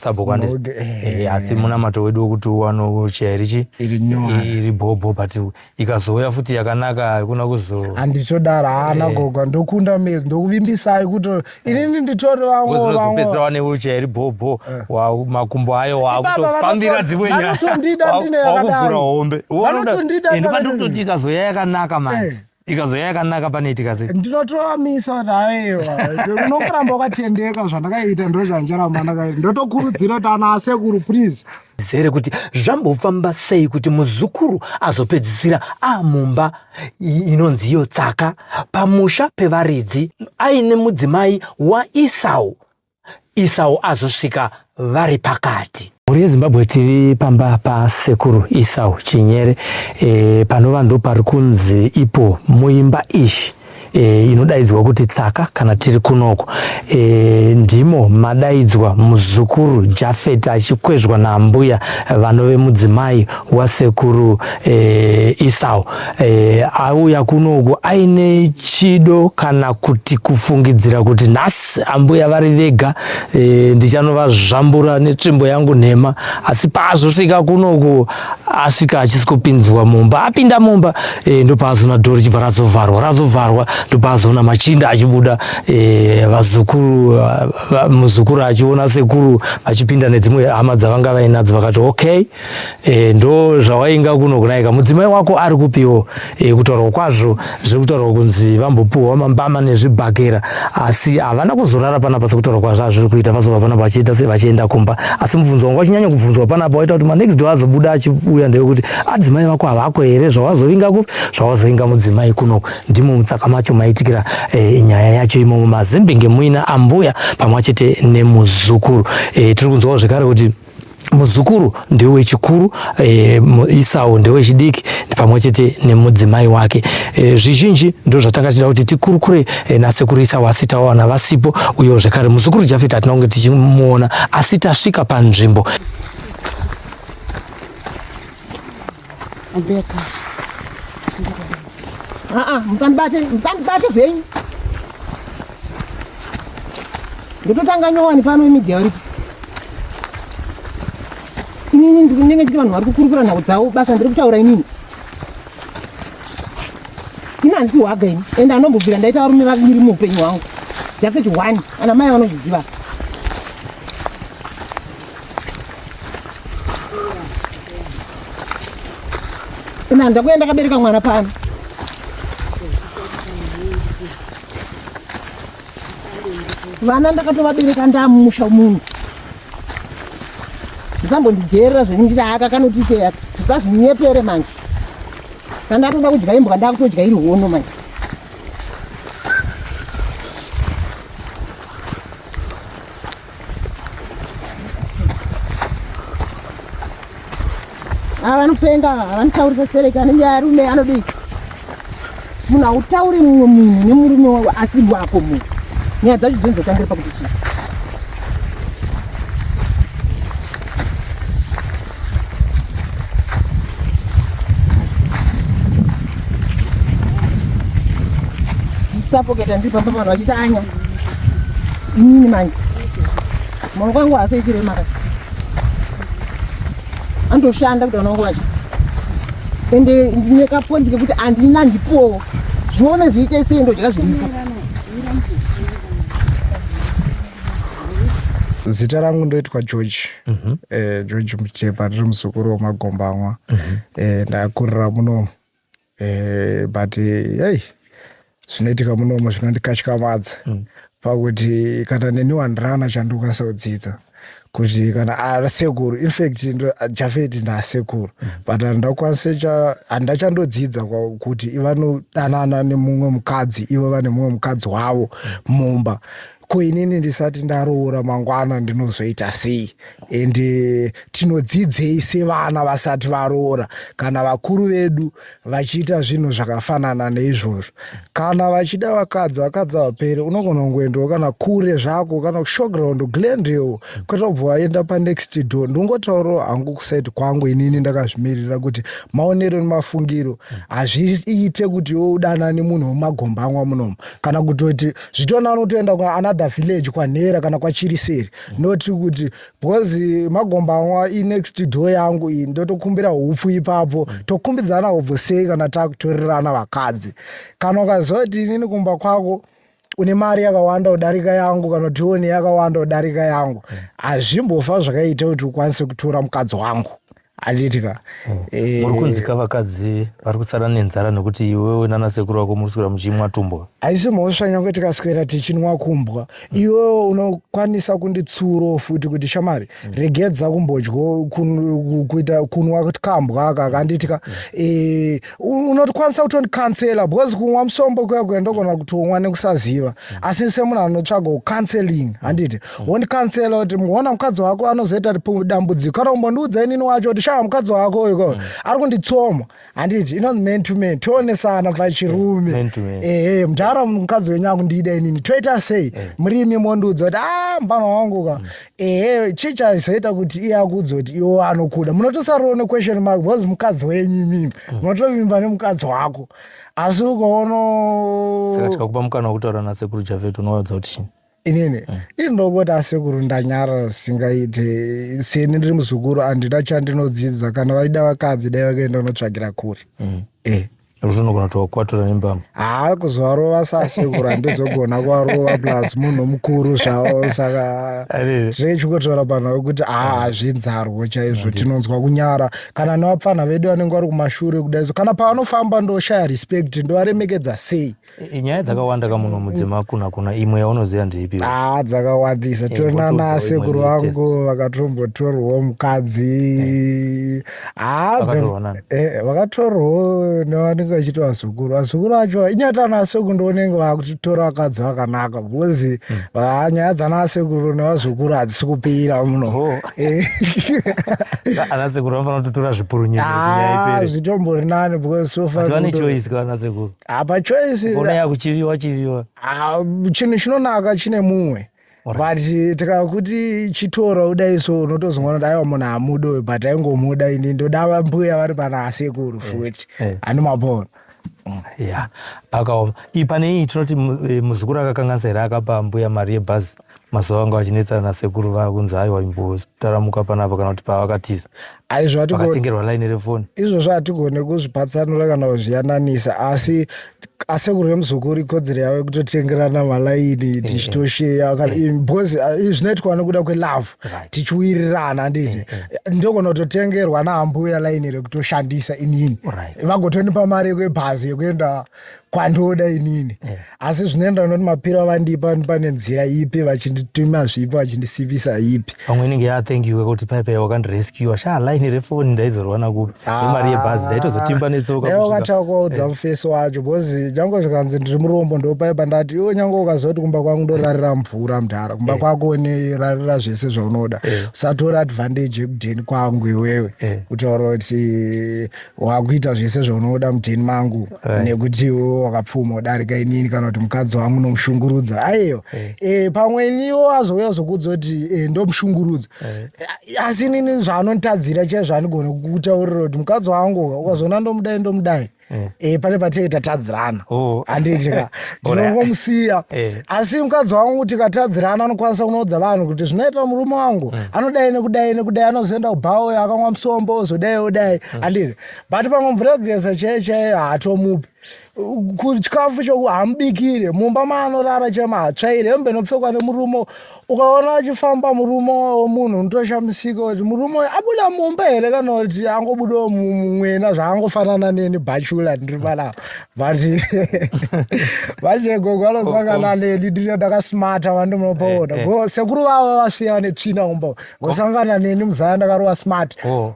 sabhuku andi eh, asi munamato wedu wekuti uwano chiya irichi iri bhobho but ikazouya futi yakanaka hakuna kuzo handitodaro haana eh. goga ndokunda mezi ndokuvimbisai kuti inini nditori vamwopedzera wane uchiya iri bhobho eh. makumbo ayo wakutofambira dzimwe nyaya wakuvhura hombe ndopandikuti ikazouya yakanaka manje ikazouya yakanaka pane itika sei ndinotoamisa kuti aiwa unongoramba wakatendeka zvandakaita ndo zvanjaramba ndakaita ndotokurudzira kuti ana asekuru please zere kuti zvambofamba sei kuti muzukuru azopedzisira amumba inonzi iyo tsaka pamusha pevaridzi aine mudzimai waisau Isau azosvika vari pakati. Mhuri yeZimbabwe TV pamba pasekuru Isau Chinyere e, panova ndo pari kunzi ipo muimba ishi e, inodaidzwa kuti tsaka kana tiri kunoko e, ndimo madaidzwa muzukuru Jafet achikwezvwa naambuya vanove mudzimai wasekuru e, Isau. e, auya kunoku aine chido kana kuti kufungidzira kuti nhasi ambuya vari vega e, eh, ndichanovazvambura netsvimbo yangu nhema asi paazosvika kunoku asvika achisi kupinzwa mumba apinda mumba e, ndopaazoona dhori chibva razovharwa razovharwa ndopaazoona machinda achibuda e, vazukuru va, muzukuru achiona sekuru vachipinda nedzimwe hama dzavanga vainadzo vakati okay e, ndo zvawainga kuno kunaika mudzimai wako ari kupiwo e, kutaurwa kwazvo zviri kutaurwa kunzi vambopiwa mambama nezvibhakera asi havana kuzorara panapa sekutaurwa kwazvo azviri kuita vazova panapa vachiita se vachienda kumba asi mubvunzo wangu wachinyanya kubvunzwa panapa waita kuti manext door azobuda achiuya ndewekuti adzimai ah, vako havako here zvawazovinga kupi zvawazovinga mudzimai kuno ndimo mutsaka macho maitikira e, nyaya yacho imomo mazimbinge muina ambuya pamwe chete nemuzukuru e, tiri kunzwawo zvekare kuti muzukuru ndewe chikuru e, eh, isau ndewe chidiki pamwe chete nemudzimai wake e, zvizhinji ndo zvatanga tichida kuti tikurukure e, nasekuru isau asi tawana vasipo uyewo zvekare muzukuru jafet hatina kunge tichimuona asi tasvika panzvimbo Ambeka. Ah ah, musandibate, musandibate zvenyu. Ndototanga nyowani pano imidhi yauripo. Inini ndiri ndenge chiti vanhu vari kukurukura nhau dzavo basa ndiri kutaura inini. Ini handisi hwaga ini ende anombobvira ndaita varume vaviri muupenyu hwangu. Jafet one, ana mai vanozviziva. Ina ndakuya ndakabereka mwana pano. Vana ndakatovabereka ndamusha munhu. Ndisambondigerera zvenyingira aka kanoti teya. Ndisazvinyepere manje. Kana ndatoda kudya imbwa ndakutodya iri hono manje. ava vanopenga vanotauririsa sereka anenge arume anodii munhu hautauri mumwe munhu nemurume wavo asi wako munhu nyaya dzacho dzinozotangira pakuti chii sapoketa ndiri pamba vanhu vachitanya inini manje maoko angu haasaitire maka andoshanda kuti vanangu vacho ende ndine kaponzi kekuti andina ndipowo zvione zviite sei ndodya zviripo zita rangu ndoitwa george mhm. eh, george muchepa ndiri muzukuru wemagombamwa mhm. eh, ndakurira muno eh, but hey zvinoitika munomo zvinondikatyamadza mm. pakuti kana neni wandirana chandikwanisa kudzidza kuti kana asekuru ah, infact jafeti ndaasekuru mm. but handakwanisa handa chandodzidza kuti vanodanana nemumwe mukadzi ivo vane mumwe mukadzi wavo mm. mumba mm. ko inini ndisati ndaroora mangwana ndinozoita sei and eh, tinodzidzei sevana vasati varoora kana vakuru vedu vachiita zvinhu zvakafanana neizvozvo kana vachida vakadzi vakadzi vapere unogona kungoendawo kana kure zvako kana kushowground glendale kwete kubva waenda panext door ndingotaurawo hangu kusaiti kwangu inini ndakazvimirira kuti maonero nemafungiro hazviite kuti yodanane munhu wemagombangwa munomu kana kutoti zvitona anotoenda kuanother village kwanhera kana kwachiriseri mm. not kuti because magombanwa inext door yangu iyi ndotokumbira upfu ipapo mm. tokumbidzana ubvo sei kana takutorerana vakadzi kana ukaziva kuti inini kumba kwako une mari yakawanda kudarika yangu kana kuti one yakawanda kudarika yangu mm. hazvimbofa zvakaita kuti ukwanise kutora mukadzi wangu handiti ka hmm. eh, muri kunzika vakadzi vari kusara nenzara nekuti iwewe nana sekuru vako muri kuswera muchimwa tumbwa haisi mhosva nyange tikaswera tichinwa kumbwa hmm. iwewe unokwanisa kunditsuro futi kuti shamari hmm. regedza kumbodyo kuita kunwa kambwa aka handiti ka eh, unokwanisa kutondicancela because kunwa musombo kuya kuya ndogona kutonwa nekusaziva mm. asi semunhu anotsvaga ucanceling mm. handiti mm. wondicancela kuti muona mukadzi wako anozoita dambudziko kana kumbondiudza inini wacho kuti shaa mukadzi wako uyu ari kunditsoma handiti inonzi man to man toonesana pachirume ehe mdhara mukadzi wenyu akundiida inini toita sei murimi mondiudza kuti a ah, mvana wangu ka ehe chii chaizoita kuti iye akuudza kuti iwo anokuda munotosariro nequestion mark because mukadzi wenyu imimi mm. munotovimba nemukadzi wako asi ukaono saka tikakupa mukana wekutaura nasekuru javet unovaudza kuti chini inini mm. inongoti asekuru ndanyara zvisingaite seni ndiri muzukuru handina chandinodzidza kana vaida vakadzi dai vakaenda unotsvagira kuri mm. e eh. zvinogona tokwatura nembama haa kuzovarova sasekura ndizogona kuvarova plus munhu mukuru zvavo saka zvechikotaura panhu vekuti haa mm. hazvinzarwo chaizvo tinonzwa kunyara kana nevapfanha vedu vanenge vari kumashure kudaiso kana pavanofamba ndoshaya respect ndovaremekedza sei nyaya dzakawanda kamuno mudzima kuna kuna imwe yaunoziva ndeipi ah dzakawandisa eh, tiona nasekuru vangu vakatombotorwawo mukadzi ah, eh, vakatorwawo nevanenge vachiti vazukuru vazukuru vacho inyata anasekuru ndionenge vakutora vakadzi vakanaka bcause hmm. ah, nyaya dzanasekuru nevazukuru hadzisi kupira muno oh. eh. anasekuru vanofanira kutotora zvipurunyezvitombori nani bcause vane choice kanasekuru apa choice ona yakuchiviwa chiviwa ah, chinhu chinonaka chine mumwe but tikakuti chitora udai so unotozongoona kuti aiwa munhu hamuda uyu but aingomuda ini ndoda vambuya vari pana asekuru eh, futi eh. ani mapona mm. ya akaoma ii pane iyi tinoti eh, muzukuru akakanganisa here akapa mbuya mari yebhazi mazuva vanga vachinetsana nasekuru vaya kunzi aiwa imbotaramuka panapa kana kuti pavakatiza aizvoakatengerwa laini refoni izvozvo hatigone kuzvipatsanura kana kuzviyananisa asi asekuru vemuzukuru ikodzero yavo yekutotengerana malaini eh, eh. tichitosheya eh. because zvinoitwa nokuda kwelove tichiwirirana handiti ndogona kutotengerwa naambuya laini rekutoshandisa inini vagotonipa mari yekwebhazi yekuenda kwandoda inini eh. asi zvinoenderana kuti mapiro avandipa pane nzira ipi vachindituma zvipi vachindisivisa ipi pamwe inenge yathengiwe kuti paipai wakandirescua sha laini refoni ndaizorwana kupi nemari ah. yebhazi ndaitozotimba netsoka dai wakatava kuvaudza eh. mufesi wacho bcause nyange zvikanzi ndiri murombo ndopaipa ndati iwe nyange ukazoti kumba kwangu ndorarira mvura mudhara kumba eh. kwako unerarira zvese zvaunoda usatora advantage yekudheni kwangu iwewe kutaura kuti wakuita zvese zvaunoda muteni mangu right. nekuti wakapfuma udarika inini kana kuti mukadzi wangu nomushungurudza aiyo hey. Eh. e, eh, pamwe iniwo azouya zokudza kuti e, eh, ndomushungurudza hey. asi inini zvaanonditadzira chai zvandigona kutaurira kuti mukadzi wangu ukazoona ndomudai ndomudai hey. e, pane patinenge tatadzirana oh. handiti ka ndinongomusiya eh. asi mukadzi wangu kuti katadzirana anokwanisa kunoudza vanhu kuti zvinoita murume wangu mm. anodai nekudai nekudai anozoenda kubhawo uyo akamwa musombo ozodai odai mm. andiri but pamwe mvura yekugeza chaiye chaiye haatomupi kuchikafu choku hamubikire mumba maanorara chema hatsvaire hembe inopfekwa nemurume ukaona achifamba murume womunhu unotoshamisika kuti murume uyu abuda mumba here kana kuti angobudawo mumwena zvaangofanana neni bachula ndiri panapa but vachegogo anosangana oh, oh. neni ndine ndakasmata vandinopaona eh, eh. go sekuru vavo vasiya vane tsvina kumba vasangana neni muzaya ndakarova smart oh.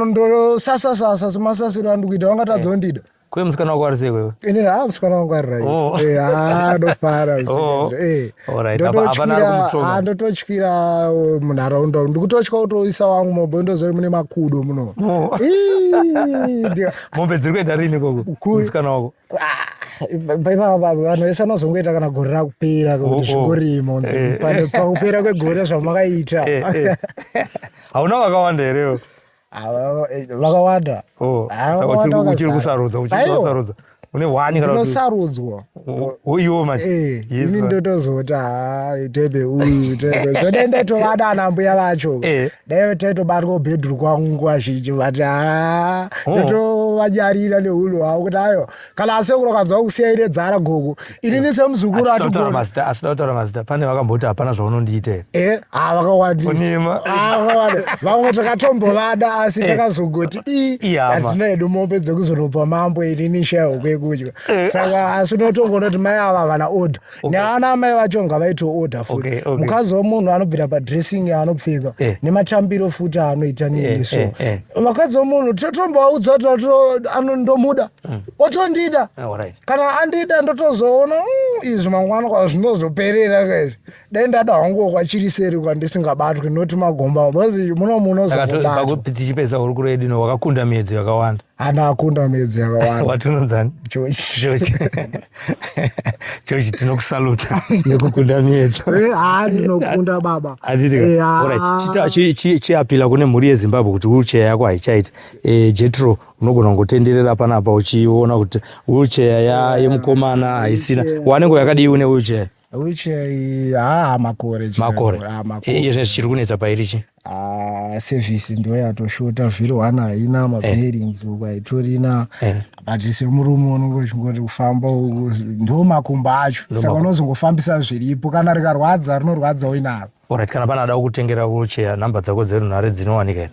ndosasasasa semasasiro andikuita vangatadza kundida Kwe musikana wako ari sei wewe? Ini ha musikana wangu ari right. Oh. Eh ha ndofara oh. usikana. Eh. Alright. Hapana ari kumutsoma. Ha ndototyira oh, munharaunda. Ndikutotya kutoisa wangu mombe ndozori mune makudo muno. Oh. Mombe dziri kuenda rini koko? Musikana wako. Ah, Baba baba vanhu vese vanozongoita kana gore rakupera kuti oh, oh. zvingorimo nzi eh. pakupera kwegore zvamakaita. Eh, eh. Hauna vakawanda here? vakawanda oh, uchiri kusarudza uchisarudzwa une hwani kanainosarudzwa uiwo manje eh, ini ndotozoti ha tebe uyu tebe zvoda ndatovada ana mbuya vacho eh. dai taitobatwa ubhedhuru kwangu nguva zhinji vati ha oh. ndotovanyarira nehulu hwavo kuti ayo kana asekuru akanzwa kusiya ine dzara gogo ini ni semuzukuru atigoniasida kutaura mazita pane vakamboti hapana zvaunondiita here e eh, ha vakawandisaonima vamwe takatombovada asi eh. takazogoti i hatina hedu mombe dzekuzonopa mambo ini ni shaya hokwekudya eh. saka asi unotongonoti mai ava havana order neana amai vacho ngavaito order futi okay, okay. mukadzi wemunhu anobvira padressing yaanopfeka eh. nematambiro futi aanoita nini eh, so eh, eh. vakadzi wemunhu totomboaudza kuti ndomuda mm. otondida ah, right. kana andida ndotozoona mm, izvi mangwana kwazvinozoperera kaizvi dai ndada hangu kwachiri seri kwandisingabatwi noti magomba bcause muno munozotichipedza hurukuro yedu no wakakunda miedzi yakawanda ana akunda midzi yakawandawatinonzani chochi chochi tinokusaluta nekukunda miyedzo eh, haa ndinokunda baba eh, chiapila kune mhuri yezimbabwe kuti wheelchair yako haichaiti eh, jetro unogona kungotenderera panapa uchiona kuti wheelchair yemukomana haisina wanenge yakadii une wheelchair which eh, haa makore chero. makore Ah, makore. iye zvinhu zvichiri kunetsa pairi chi Ah, service ndo yatoshota zviri one haina mabearings uku haitorina Eh. but semurume unenge uchingoti kufamba uku ndo makumbo acho saka unozongofambisa zviripo kana rikarwadza rinorwadza uinaro orit kana pane adawo kutengera kucheya nhamba dzako dzerunhare dzinowanika here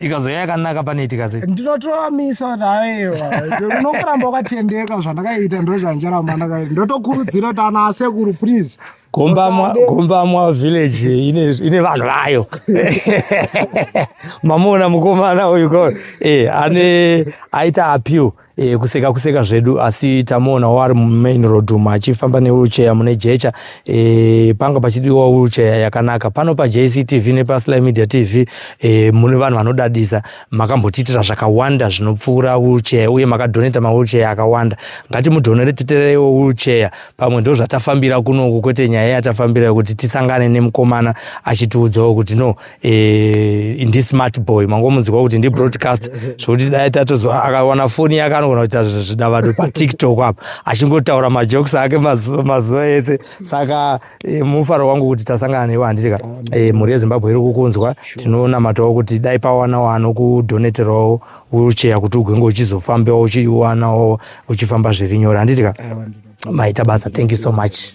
ikazouya yakanaka pane itikase ndinotoamisa kuti aiwa unongoramba wakatendeka zvandakaita ndozvanjaramba ndakaita ndotokurudzira kuti ana asekuru please gombamwa village ine vanhu vayo mamuona mukomana uyu eh, ane aita appeal E, kuseka kuseka zvedu asi tamoonawo ari mumain road umo achifamba newheelchair mune jecha e, panga pachidiwa wheelchair yakanaka pano pajctv nepasly media tv e, mune vanhu vanodadisa makambotiitira zvakawanda zvinopfuura wheelchair uye makadhoneta mawheelchair akawanda ngatimudhonere titererewo wheelchair pamwe ndo zvatafambira kunoku kwete nyaya yatafambira yekuti tisangane nemukomana achitiudzawo kuti no eh, ndi smart boy mangomunzwa kuti ndi broadcast zvokuti dai tatozo akawana foni yake anogona kuita zvidavado patiktok apa achingotaura majokes ake mazuva ese saka eh, mufaro wangu kuti tasangana newe handiti ka eh, mhuri yezimbabwe iri kukunzwa tinonamatawo kuti dai pawanawo anokudoneterawo ucheya kuti ugenge uchizofambewo uchiiwanawo uchifamba zviri nyore handiti ka maita basa thank you so much